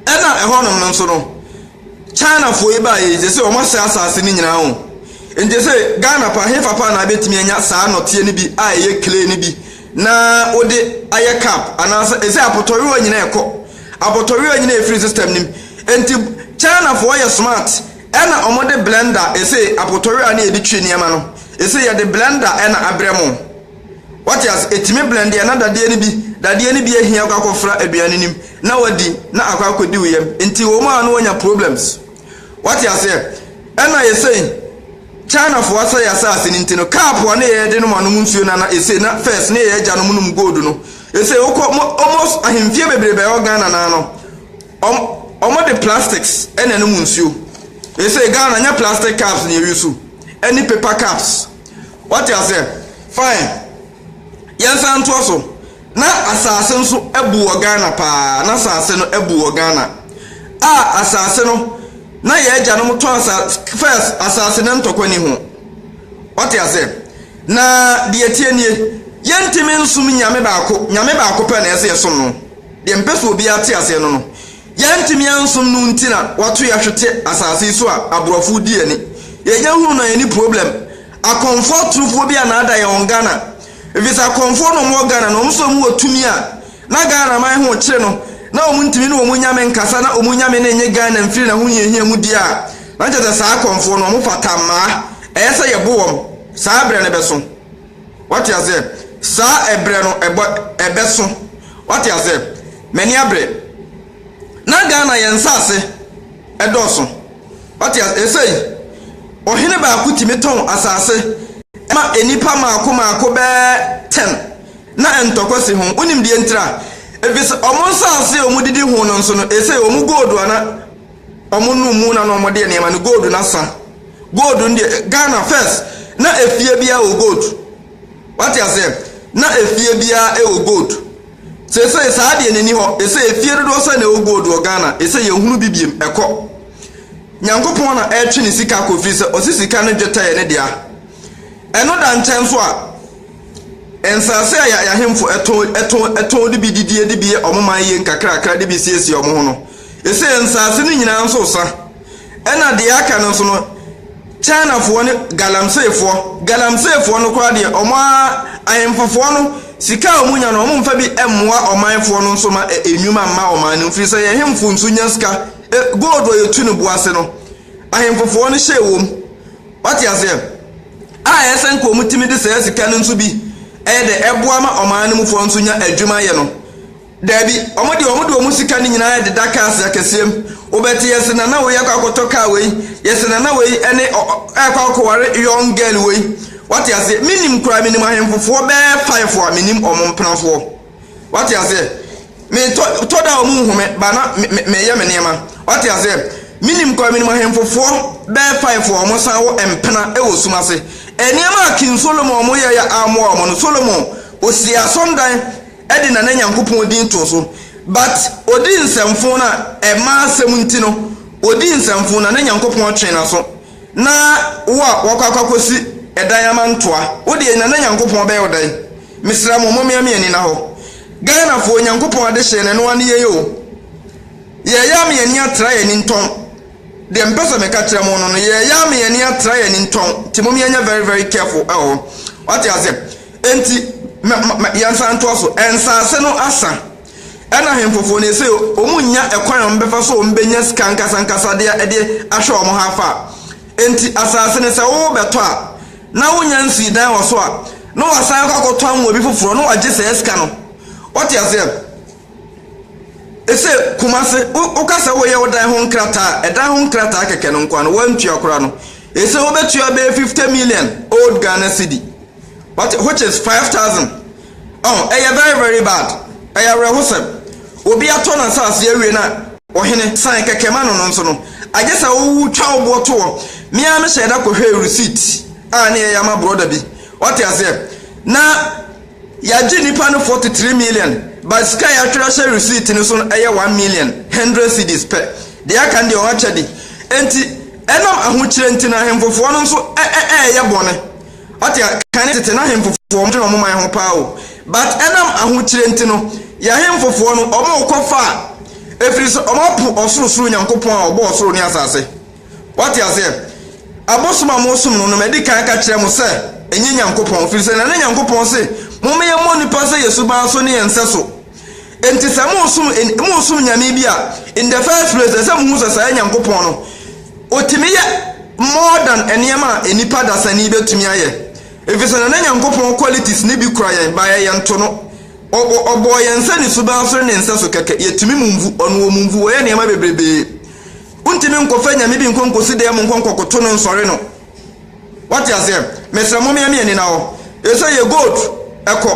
Ɛna ɛhɔnom no nso no. China foɔ yi baeɛ yi sese wɔn asɛe asaase no nyinaa o nti sese Ghana paa he fa paa na abɛtumi anya saa nɔteɛ no bi a ɛyɛ clay no bi na wode ayɛ cup anaasɛ sese apɔtɔwewa nyinaa ɛkɔ apɔtɔwewa nyinaa ɛfiri system no mu nti China foɔ yɛ smart ɛna wɔn de blender sese apɔtɔwewa no yɛde twi nneɛma no sese yɛde blender ɛna abrɛ mo. Wate ase? Etumi blend a na dadeɛ no bi, dadeɛ no bi ahia akɔ akɔfra aduan no nim na wadi na akɔ akɔdi wo yam. Nti wɔ mu a na wanya problems. Wate aseɛ? Ɛna esei China foɔ asɛe asaase no nti no cup a na yɛde nom anom nsuo no ana esei na first na yɛ agyanom nom gold no. Esei wokɔ mo almost ahemfie bebrebe a ɛwɔ Ghana naa no wɔn wɔde plastics ɛna nom nsuo. Esei Ghana nyɛ plastic cups na yɛ use ɛne paper cups. Wate aseɛ? Fine. Yɛnsan ntoa so. Na asase nso abu wɔ Ghana paa. Na asase no abu wɔ Ghana. A asase no, na yɛn agyanom tɔ asase, first, asase no ntɔkwa ni ho. Wate aseɛ? Na deɛ tie nie, yɛntumi nsom nyame baako, nyame baako pɛ na ɛsɛ yɛsom no. Deɛ mpɛ sɛ obiara te aseɛ no no, Yɛantumi ansom no nti na wato yɛ hwete asase yi so a aborɔfo di yɛni. Yɛnya hunu na yɛni problem. Akɔmfoɔ atorofoɔ bi anaada yɛn wɔ Ghana. Efisɛ akɔmfoɔ na wɔn wɔ Ghana no wɔn nso wɔn wɔ tumi a na Ghana man ho rekyere no na wɔn ntumi ne wɔn nyame nkasa na wɔn nyame no nnye Ghana mfiri n'ahohiahia mu di a na kyerɛ sɛ saa akɔmfoɔ no wɔn fata mmaa ɛyɛ sɛ yɛbo wɔn saa berɛ no bɛso. Wate aseɛ? Saa ɛberɛ no, ɛbɔ, ɛbɛso. Wate aseɛ? M'ani abere. Na Ghana yɛn nsaase ɛdɔɔso. Wate aseɛ? Ɛsei, ɔhene baako tumi tɔn asaase ma nnipa maako maako bɛɛ ten. Na ntɔkwa si ho. Wonim deɛ ntira? Efisɛ wɔn nsaase a wɔdidi ho no nso no, ɛsei wɔn gold a na. Wɔnom mu na na wɔde nneɛma no gold no asa. Gold no deɛ Ghana first na efie biara wɔ gold. Wate aseɛ? Na efie biara wɔ gold. Seesei saa deɛ n'ani hɔ. Ɛsɛ efie dodoɔ sɛ na ɛwɔ gold wɔ Ghana. Ɛsɛ yɛhunu bi biem ɛkɔ. Nyankopɔn na ɛretwe ne sika kɔ firi sɛ ɔsi sika ne dwetɛ yɛ ne dea. Ɛno da nkyɛn nso a nsase a yɛahemfo ɛtɔn ɛtɔn ɛtɔn de bi didie de bi yɛ wɔn man yie nkakrakra de bi siesie wɔn ho no. Ese nsaase no nyinaa nso sa. Ɛna deɛ aka no nso no Chinafoɔ ne Galamseyfoɔ, Galamseyfoɔ no koraa deɛ wɔn ara ahemfofoɔ no sika a wɔn nya no wɔn mfa bi mmoa ɔmanfoɔ no nso ma nnwuma mma ɔman no mfiri sɛ yɛn hemfo nso nya sika, gold a yɛtu no bo ase no ahemfofoɔ no hyɛ wɔ mu wate aseɛ a ɛyɛ sɛ nka wɔn tumi de saa sika no nso bi ɛyɛ dɛ ɛboa ma ɔman no mufoɔ nso nya adwuma yɛ no. Dabi, wɔde wɔn de wɔn sika no nyinaa deda cars akɛseɛ mu. Wobɛte yɛse nana wei akɔ akɔtɔ car wei, yɛse nana wei ne ɔ ɔ ɛɛkɔ akɔware young girl wei. Wate aseɛ? Menim koraa menim ahemfofoɔ bɛɛ five a menim wɔn mpenafoɔ. Wate aseɛ? Me tɔ tɔ da a wɔn nhu me but na me me meyɛ me nneɛma. Wate aseɛ? Menim koraa menim ahemfofoɔ bɛɛ five a wɔn san wɔ mpena wɔ sum ase. Nneɛma a King Solomon wɔn yɛeɛ a ammoa wɔn no, Solomon ɔsii asɔndan. de Nana Nyankopɔn din too so but ɔdii nsɛmfoo no a ɛmaa asɛm nti no ɔdii nsɛmfoo Nana Nyankopɔn twee naso na wo a wakɔ akɔ akɔsi ɛdan ama ntoa wo deɛ Nana Nyankopɔn bɛyɛ wo dɛn mesrɛ mo momea me ani nahɔ Ghanafoɔ Nyankopɔn adehyeɛ no ɛno ara ne yɛn oo yɛɛyaa me ani atra yɛn ani ntɔn deɛ mepɛ sɛ meka kyerɛ mo no no yɛɛyaa me ani atra yɛn ani ntɔn nti momea nyɛ very very careful ɛwɔ hɔ wate aseɛ Enti, ma, ma, ma yɛnsan ntoa so. Nsaase no asa. Ɛna hemfofo no, ese wɔnnya kwan a wɔbɛfa so a wɔbɛnya sika ankasankasa de, de ahwɛ wɔn ha afa. Enti, asaase no, sɛ worebɛtɔ a, na wonnya nsii dan wɔ so a, na wɔasan akɔ akɔtɔn wɔ obi foforɔ, na wɔagye saa sika no. Wote aseɛ? Ese Kumasi, woka sɛ woreyɛ wo dan ho nkrataa a, ɛdan ho nkrataa kɛkɛ no nkoa no, woantua koraa no, ese wobɛtua bɛyɛ fifty million old Ghana cedi, wate, which is five thousand. Ɔho, ɛyɛ very very bad, ɛyɛ awerɛhosɛm. Obi atɔ n'asaase awie na ɔhene san kɛkɛ ma no no nso no, agye sɛ wotwa wo boɔ to hɔ. Me ara mehyɛɛ da kɔhwɛɛ receipt a ne yɛyɛ ama brɔda bi, wate aseɛ, na. Yɛagye nnipa no 43 million but sika a yɛatwerɛ ahyɛ receipt no so no yɛ one million hundred cedis pɛ, deɛ aka no deɛ wɔn akyɛde nti, ɛnam ahokyerɛ nti no ahemfofoɔ no nso ɛɛyɛ bɔne, ɔte a, kane tete na ahemfofoɔ wɔn dwene wɔn man ho paa o, but ɛnam ahokyerɛ nti no yɛ ahemfofoɔ no wɔn rekɔ faa ɛfiri sɛ wɔn apo ɔsoro soro Nyankopɔn a ɔbɔɔ ɔsoro ne asase. Wate aseɛ? Abosom a mosom no no, madi kan ka kyerɛɛ mo sɛ ɛnyɛ Nyankopɔn, ɛfiri sɛ na ne Nyankopɔn se momma yɛmmɔ nnipa sɛ yɛn suban so ne yɛn sɛso. Enti sɛ mosom en, mosom nyame bi a, in the first place, ɛsɛ sɛ mohu sɛ saa Nyankopɔn no, Ɔtumi yɛ more than nneɛma a nnipa dasani bɛtumi ayɛ. Ɛfiri sɛ na ne Nyankopɔn qualities no bi kura yɛn, but ɛyɛ nto no. Ɔ, ɔ, Ɔbɔɔ yɛn sɛ ne suban so ne ne nsɛso kɛkɛ. Yɛtumi mumvu, Ɔno ɔmumvu, Ɔyɛ nneɛma bebrebee. Wontumi nkɔfa nyame bi nkɔ nkosi dan mu nkɔ nkɔkoto no nsɔre no. Wate aseɛ? Mesrɛ mo meɛmeɛ nina hɔ. Ɛsɛ yɛ gold ɛkɔ.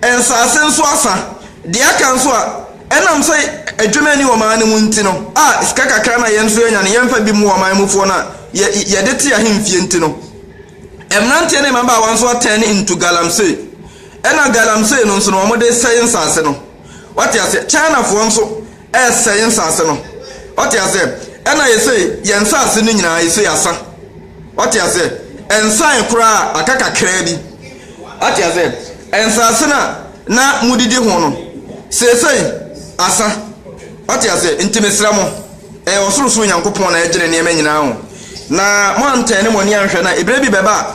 Nsaase nso asa. Deɛ aka nso a, ɛnam sɛ adwuma ni wɔ ɔman no mu nti no, a sika kakra no a yɛn nso yɛnya no yɛmfa bi mmoa ɔman mufoɔ no a yɛ yɛde te ahemfie nti no, mmeranteɛ ne mmabaawa nso atɛn into galamsey. Ɛna galamsey no nso no wɔde sɛe nsaase no. Wate aseɛ? Chinafoɔ nso Ɛsɛ yɛn nsase no. Wate aseɛ? Ɛna yɛsɛ yɛn nsase no nyinaa yɛsɛ yɛasa. Wate aseɛ? Ɛnsan koraa aka kakraa bi. Wate aseɛ? Nsase no a na modidi ho no, seesei asa. Wate aseɛ? Nti mesrɛ mo, ɛyɛ ɔsorosoro Nyankopɔn na ɛgyene nneɛma nyinaa o. Na moantɛne mo ani anhwɛ na eberɛ bi bɛba a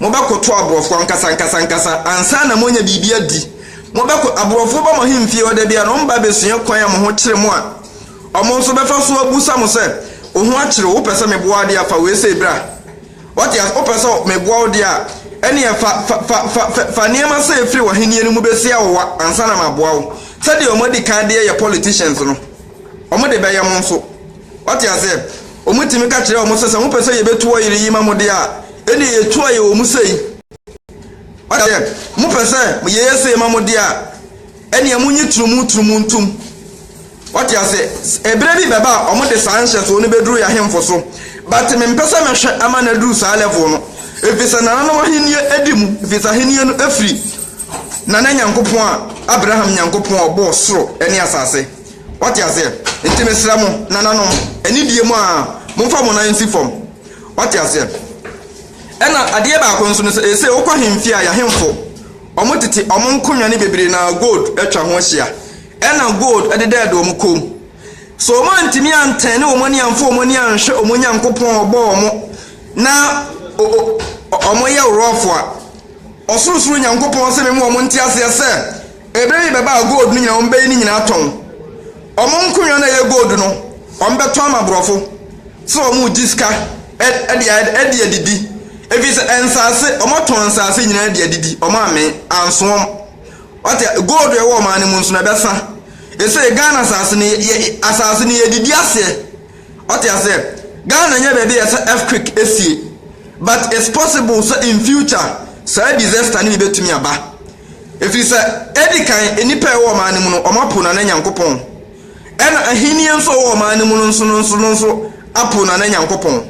Mobɛkoto aborɔfo ankasa ankasa ankasa ansa na moanya biribi adi. Mobɛko, aborɔfo ba mo ahemfie hɔ da biara na wɔba abɛsua kwan a mo ho kyere mo a wɔn nso bɛfa so abisa mo sɛ, Wo ho akyere wo? Wopɛ sɛ meboa wo de a, fa weisei bra. Wate ase? Wopɛ sɛ meboa wo de a, ɛnneɛ fa, fa, fa, fa, fa, fa nneɛma sei firi w'ahennie no mu bɛsi awowa ansa na maboa wo. Sɛdeɛ wɔadi kan de yɛ politicians no, wɔde bɛyɛ mo nso. Wate aseɛ? Wɔtumi ka kyerɛ wɔn sɛ, sɛ mopɛ sɛ yɛbɛtu wɔ yere yi ma mo deɛ a, ɛnneɛ yɛtu ayɛ wɔ mu sei. Wate aseɛ? Mopɛ sɛ yɛyɛ sei ma mo deɛ a, ɛnneɛ monyi turumu turumu ntom. Wate aseɛ? Ɛberɛ bi bɛba a wɔde saa nhyɛsoɔ no bɛduru yɛn ahemfo so. But mempɛ sɛ mɛhwɛ ama no aduru saa level no. Ɛfiri sɛ nananom ahennie di mu, ɛfiri sɛ ahennie no firi Nana Nyankopɔn a, Abraham Nyankopɔn a ɔbɔɔ soro ne asase. Wate aseɛ? Nti mesrɛ mo, nananom, anidie mu a, momfa mo nan nsi fam. Wate aseɛ? Ɛna adeɛ baako nso ne sɛ, seesei wokɔ ahemfie a, y'ahemfo, wɔn tete, wɔn nkonwa ne bebree no ara, gold atwa ho ahyia. Ɛna gold dedɛɛde wɔn kɔn mu. So wɔn antumi antɛɛne wɔn ani amfa wɔn ani anhwɛ wɔn Nyankopɔn a ɔbɔɔ wɔn na o, o, wɔyɛ worɔɔfo a, Ɔsorosoro Nyankopɔn se me ma wɔn nte aseɛ sɛ, Ɛberɛ yi bɛba a gold no nyinaa wɔbɛyi ne nyinaa atɔn. Wɔn nkonnwa no a ɛyɛ gold no wɔbɛtɔn ama aborɔfo sɛ wɔregye sika de ayɛ de adidi. Ɛfiri sɛ nsaase wɔtɔn nsaase nyinaa de adidi wɔn ammee anso wɔn. Wate gold a ɛwɔ ɔman no mu nso no ɛbɛsa. Ɛsei Ghana asaase no yɛ asaase no yɛdidi aseɛ wate aseɛ. Ghana nyɛ baabi a ɛsɛ earthquake ɛsie but it's possible sɛ in future saa disaster no bi bɛtumi aba. Ɛfiri sɛ edi kan nnipa a ɛwɔ ɔman no mu no wɔapo Nana Nyankopɔn, ɛna ahennie nso a ɛwɔ ɔman no mu no nso no nso no nso apo Nana Nyankopɔn.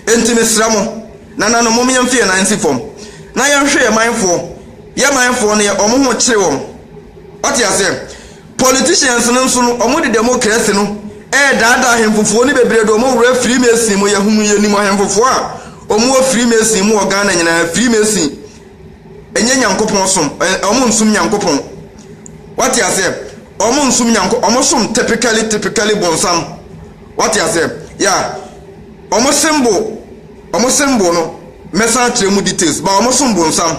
Enti mesrɛ mo, Nananom, mom yɛmfe yɛn nan nsi fam na yɛnhwɛ yɛn manfoɔ, yɛn manfoɔ no yɛ wɔn ho kyere wɔn. Wate aseɛ? Politicians no nso no wɔde democracy no ɛredaadaa ahemfofoɔ no bebree de wɔn wura Freemason mu, yɛhunu yɛnim ahemfofoɔ a wɔwɔ Freemason mu wɔ Ghana nyinaa, Freemason. ɛnyɛ Nyankopɔn som, ɛ, wɔn nsom Nyankopɔn. Wate aseɛ? Wɔn nsom Nyankopɔn, wɔn som typically, typically bonsam. Wate aseɛ? Yeah. Wɔn symbol, wɔn symbol no, mɛsan akyerɛ mu details, ba wɔn som bonsam.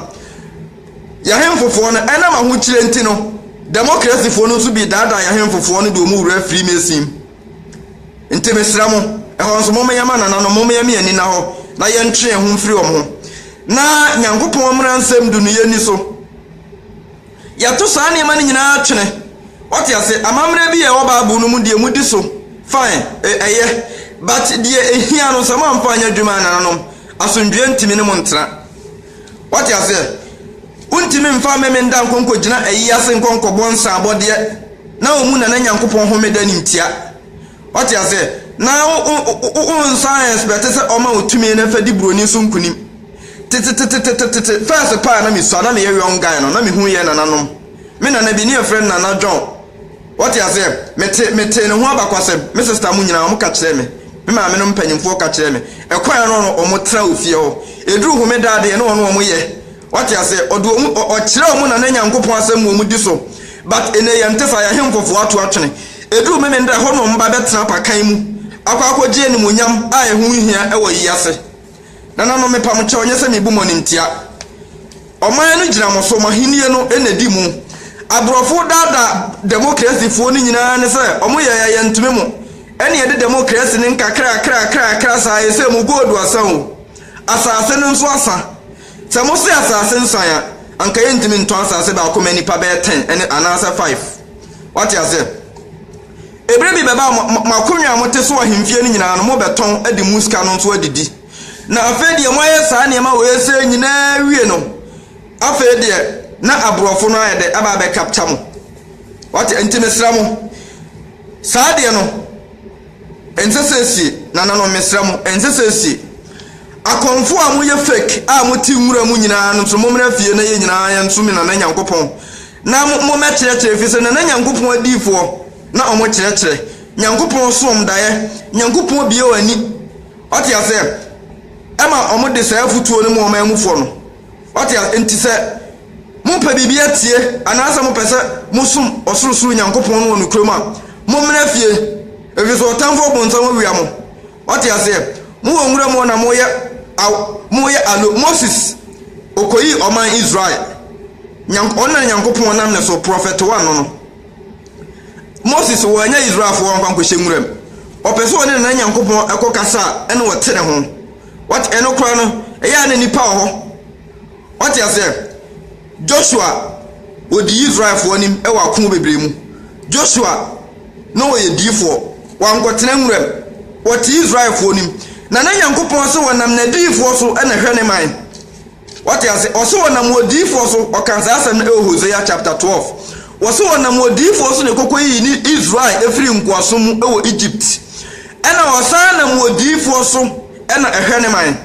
Yɛahemfofoɔ no, ɛnam ahokyerɛ nti no, democracyfoɔ no nso bi daadaa yɛahemfofoɔ no de wɔn wura Freemason mu. Nti mesrɛ mo, ɛhɔ nso mommeyɛ ma nananom, mommeyɛ me ani nna hɔ, na yɛntwe yɛn ho mfiri wɔn ho, na Nyankopɔn mmara nsɛm du no yɛnni so. Yɛto saa nneɛma no nyinaa twene. Wate ase? Amammerɛ bi a ɛwɔ Bible no mu deɛ modi so, fine, ɛ- ɛyɛ. But deɛ ehia no, sɛ moamfa anyɛ adwuma a, nananom, asomdwoeɛ ntumi ne mo ntena. Wate aseɛ? Wontumi mfa mmɛmenda nkɔ nkɔgyina ayi ase nkɔ nkɔbɔ nsaabɔdeɛ. Na wɔn mu na na Nyankopɔn homeda no ntia. Wate aseɛ? Na wo, wo, wo, wo nsan ɛnspɛte sɛ ɔma wo tumi na fa di buroni so nkunim. Tetetetetetete, fɛɛse paa na mesua, na meyɛ young guy no, na mehu yɛ nananom. Me nana bi, ne yɛfrɛ no Nana John. Wate aseɛ? Mete, metee ne ho abakwasɛm. Me sista mo nyinaa, wɔka kyerɛɛ me. Me maame nom mpanyimfoɔ ka kyerɛɛ me. Ɛkɔɛ ara na wɔn, wɔn tra wɔ fie hɔ. Ɛduru homeda adeɛ na wɔn, wɔn yɛ. Wate aseɛ? Ɔde wɔn, ɔ, ɔkyerɛ wɔn Nana Nyankopɔn asɛm ma wɔn di so. But ene yɛnte saa, yɛn ahemfofoɔ ato atwene. Eduru Memen da hɔ na wɔn ba bɛtena apakan mu akɔ akɔgye animuonyam a ɛho nhia wɔ yi ase. Nananom, mepa mo kyɛw, nyɛ sɛ mebu mo animtia. Ɔman no gyina mo so, mo ahennie no na edi mu. Aborɔfo daadaa demokrasifoɔ no nyinaa ne sɛ wɔn yɛɛ a yɛntumi mo, ɛne yɛde demokrasi no nkakrakrakrakra saa, ɛsɛ mu gold asa o, asase no nso asa. Sɛ mose asase nsan a, anka yɛntumi ntɔ asase baako ma nnipa bɛyɛ ten ne anaasɛ five. Woate aseɛ? Ebire bi bɛba a mo, mo, mo akonnwa a mote so wɔ ahemfie no nyinaa no, mobɛtɔn de mo sika no nso adidi. Na afei deɛ moayɛ saa nneɛma wei sei nyinaa awie no, afei deɛ na aborɔfo no ayɛ dɛ aba abɛcapture mo. Woate? Enti mesrɛ mo, saa deɛ no, Ɛnsɛ sɛ esie, nananom, mesrɛ mo, ɛnsɛ sɛ esie. Akɔmfo a moyɛ fake a mote nwura mu nyinaa no nso, mommra fie na yɛn nyinaa yɛnsom Nana Nyankopɔn na mommɛkyerɛkyerɛ, ɛfiri sɛ Nana Nyankopɔn adiyifoɔ na wɔkyerɛkyerɛ. Nyankopɔn som daeɛ. Nyankopɔn bue wɔn ani, wate aseɛ, ma wɔde saa afotuo no ma wɔn amufoɔ no. Wate a nti sɛ mopɛ biribi atie anaasɛ mopɛ sɛ mosom ɔsorosoro Nyankopɔn no wɔ nokorɛ mu a, mommra fie, ɛfiri sɛ ɔtamfo ɔbonsam awia mo. Wate aseɛ? Mowɔ nwura mu hɔ na moyɛ aw, moyɛ alo. Moses, ɔkɔyii ɔman Israel. Nyank, ɔno na Nyankopɔn nam ne so prɔfɛtowa no no. Moses, wɔanya Israelfoɔ nkwa nkɔhyɛ nwura mu. Ɔpɛ sɛ ɔne ne Nyankopɔn ɛkɔ kasa a, ɛna ɔte ne ho. Wate ɛno koraa no ɛyɛ a na nnipa wɔ hɔ wate aseɛ Joshua ɔdii Israelfoɔ anim wɔ ako bebree mu Joshua na ɔyɛ diifoɔ wankɔtena nwuram ɔte Israelfoɔ anim na na Nyankopɔn sɛ ɔnam nadiyifoɔ so na ɛhwɛ ne man. Wate ase? Ɔse wɔnam odiyifoɔ so, ɔka saa asɛm no ɛwɔ Hosea chapter 12. Wɔse wɔnam odiyifoɔ so na ɛkɔkɔ yiyi ne Israel ɛfiri nkoasom mu ɛwɔ Egypt. Ɛna ɔsan nam odiyifoɔ so ɛna ɛhwɛ ne man.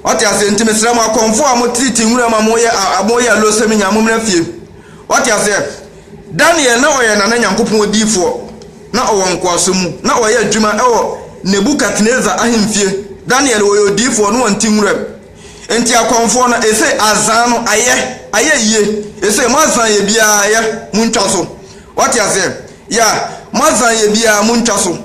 Wate aseɛ? Nti mesrɛ mo akɔmfoɔ a mo tete nwura mu a mo yɛ a mo yɛ alosɛm nyinaa mo mmra fie. Wate aseɛ? Daniel na ɔyɛ Nana Nyankopɔn odiyifoɔ, na ɔwɔ nkoasom mu, na ɔyɛ adwuma wɔ Nebukadnesar ahemfie. Daniel ɔyɛ odiyifoɔ na ɔnte nwuram. Enti akɔmfoɔ no, ese, Azan no, ayɛ, ayɛ yie. Ese, mo azan yɛ biara, ayɛ, montwa so. Wate aseɛ? Ya, mo azan yɛ biara, montwa so.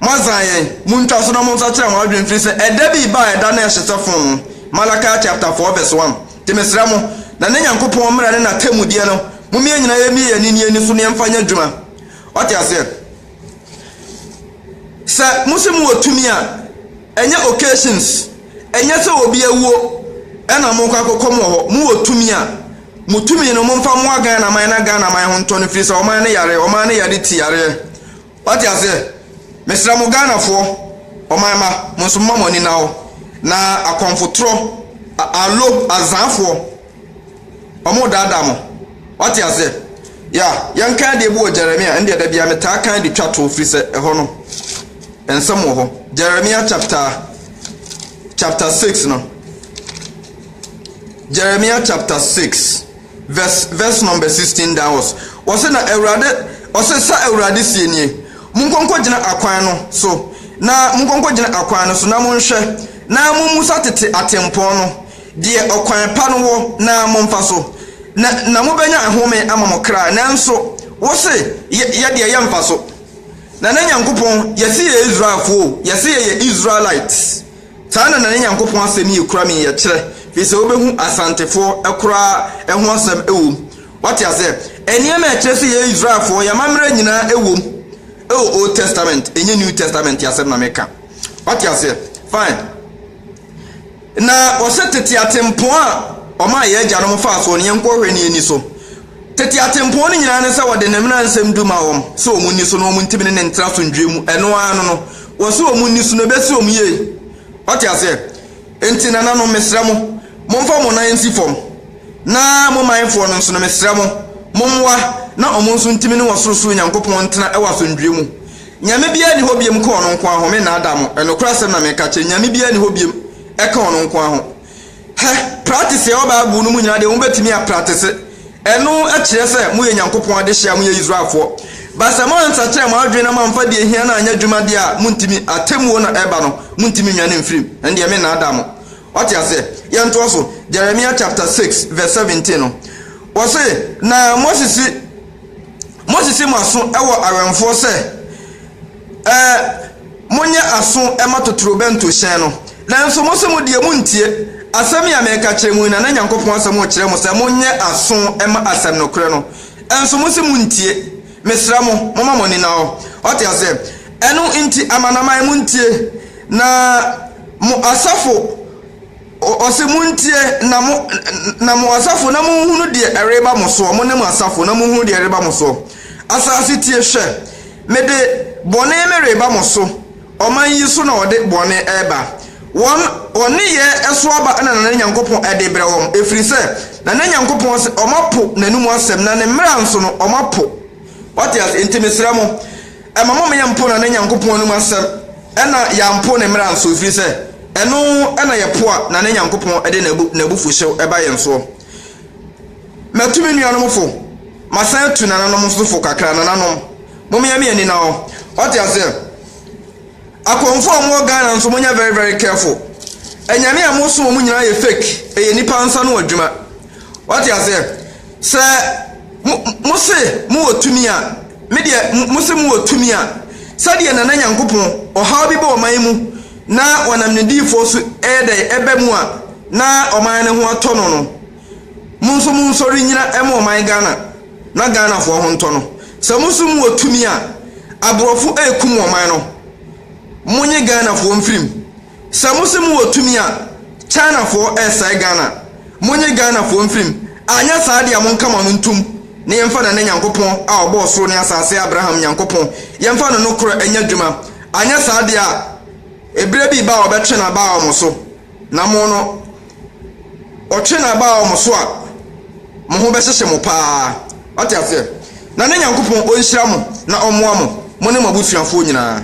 Moadzan hɛn, muntwa so na monsakyera mo adwen mfiri sɛ ɛda bi reba a ɛda no rehye sɛ fon no. Malachi chapter 4 verse 1 Nti mesrɛ mo, na ne Nyankopɔn mmara ne n'atemmudeɛ no, mommie yɛn nyinaa yɛmmie yɛn ani ani so na yɛmfa nyɛ adwuma. Wate aseɛ? Sɛ mose mowɔ tumi a, ɛnyɛ occasions, ɛnyɛ sɛ obi awuo ɛna mokɔ akɔkɔm wɔ hɔ, mowɔ tumi a, mo tumi no momfa mmoa Ghana man na Ghana man ho ntɔ no firi sɛ ɔman no yareɛ, ɔman no yare ti yareɛ. Wate aseɛ? Mesrɛ mo Ghanafoɔ, ɔman mma, mo nso momma mo ani nna hɔ, na akɔmfotorɔ, allo, azaafoɔ, wɔredaadaa mo. Wate aseɛ? Yeah, yɛnka adeɛ bi wɔ Jeremia, ɛndeɛ da biara metaa kan de twa toɔ, firi sɛ ɛhɔ no, nsɛm wɔ hɔ. Jeremia chapter, chapter six no. Jeremia chapter six. Vs vs number sixteen Daos. Ɔse na Awurade ɔse sa Awurade sie nie, Monkɔ nkɔgyina akwan no so na monkɔ nkɔgyina akwan no so na monhwɛ na mommusa tete atempɔn no deɛ ɔkwan pa no wɔ na momfa so na na mobɛnya ahome ama mo kra nanso wose yɛ yɛ deɛ yɛmfa so Nana Nyankopɔn yɛse yɛyɛ Israelfoɔ o yɛse yɛyɛ Israelites Saa na na ne Nyankopɔn asɛm yi kura me yɛ kyerɛ, firi sɛ wobɛhu Asantefoɔ koraa ho asɛm wɔ mu. Woate aseɛ? Nneɛma a ɛkyerɛ sɛ yɛyɛ Israelfoɔ, yɛn amammerɛ nyinaa wɔ mu wɔ Old Testament, ɛnyɛ New Testament asɛm na meka. Woate aseɛ? Fine. Na wɔsɛ tete atempɔn a wɔmaa yɛn agyanom faa soɔ no, yɛnkɔhwɛ na yɛnni so. Tete atempɔn no nyinaa ne sɛ wɔde ne mmara nsɛm du ma wɔn sɛ wɔn nni so na wɔn ntimi ne no ntra asomdwoeɛ mu, ɛno ara no no, wɔse wɔn nni so no ɛbɛsi wɔn yie. Woate aseɛ? Enti nananom, mesrɛ mo, momfa mo nan nsi fam, na mo manfoɔ no nso no, mesrɛ mo, mommoa na wɔn nso ntimi ne wɔn sorosoro Nyankopɔn ntra wɔ asomdwoeɛ mu. Nyame biara nni hɔ biom ka Ɔno nko ara ho, mennaadaa mo, nokorɛ asɛm na mereka akyerɛ, Nyame biara nni hɔ biom ka Ɔno nko ara ho. Hɛ, pratese a ɛwɔ Bible no mu nyinaa deɛ mobɛtumi a, pratese. Ɛno kyerɛ sɛ moyɛ Nyankopɔn adehyeɛ a moyɛ Israelfoɔ. But sɛ moansakyera mo adwene na moamfa deɛ ɛhia no anyɛ adwuma deɛ a, montumi. Atemmuo na ɛba no, montumi nnwane mfiri mu. Ɛndeɛ mennaadaa mo. Wate aseɛ? Yɛntoa so. Jeremiah chapter six verse seventeen no, wɔse, Na Mose se, Moahyehye mo aso wɔ awɛmfoɔ sɛ, Ɛɛ, monyɛ aso mma totorobɛnto hyɛn no. Nanso mose mo deɛ monntie asɛm yi a mereka kyerɛ mo yi, na na Nyankopɔn asɛm rekyerɛ mo sɛ monyɛ aso mma asɛm nokorɛ no. Nso mose monntie. Mesrɛ mo, momma mo ani nna hɔ. Wate aseɛ? Ɛno nti, amanaman, monntie, na mo asafo. Ɔse, Montie, na mo, na mo asafo, na monhunu deɛ ɛreba mo soɔ, mo ne mo asafo, na monhunu deɛ ɛreba mo soɔ. Asaase tie, hwɛ, mede bɔne mereba mo so, ɔman yi so na wɔde bɔne reba. Wɔn, wɔn nneyɛɛ so aba na Nana Nyankopɔn de rebrɛ wɔn, ɛfiri sɛ Nana Nyankopɔn se wɔapo N'anum asɛm, na Ne mmara nso no, wɔapo. Wate ase? Enti mesrɛ mo, ɛma mo meyɛ mpo na ne Nyankopɔn anom asɛm, ɛna yɛampo ne mmara nso, ɛfiri sɛ ɛno na yɛpo a na ne Nyankopɔn de n'abufuhyew ba yɛn soɔ. Matu me nuanom fo, masan atu nananom nso fo kakra, nananom, mommea me ani na ɔ, wate aseɛ? Akɔmfo a mowɔ Ghana nso monyɛ very very careful, anyame a mosom wɔn nyinaa yɛ fake, ɛyɛ nnipa nsa ano adwuma, wate aseɛ? Sɛ mo, mo se mo wɔ tumi a, me deɛ, mo, mo se mo wɔ tumi a, sɛdeɛ Nana Nyankopɔn, ɔhaw bi ba ɔman mu na ɔnam ne diyifoɔ so ɛyɛ dɛn ɛba mu a na ɔman no ho atɔ no no, mo nso mo nsɔre nnyina ɛma ɔman Ghana na Ghanafoɔ ho ntɔ no. Sɛ mo se mo wɔ tumi a, aborɔfo ɛrekum ɔman no, mo nye Ghanafoɔ mfiri mu. Sɛ mo se mo wɔ tumi a China foɔ ɛsɛe Ghana monye Ghana foɔ mfirim anyɛ saa deɛ a monka mo ano ntom na yɛmfa Nana Nyankopɔn a ɔbɔɔ soro ne asaase Abraham Nyankopɔn yɛmfa no nokorɛ nyɛ adwuma anyɛ saa deɛ a eberɛ bi reba a ɔbɛtwe naba aɔ mo so na mo no ɔtwe naba aɔ mo so a mo ho bɛhyehye mo paa wate aseɛ Nana Nyankopɔn ɔnhyira mo na ɔmmoa mo mo ne mo abusuafoɔ nyinaa.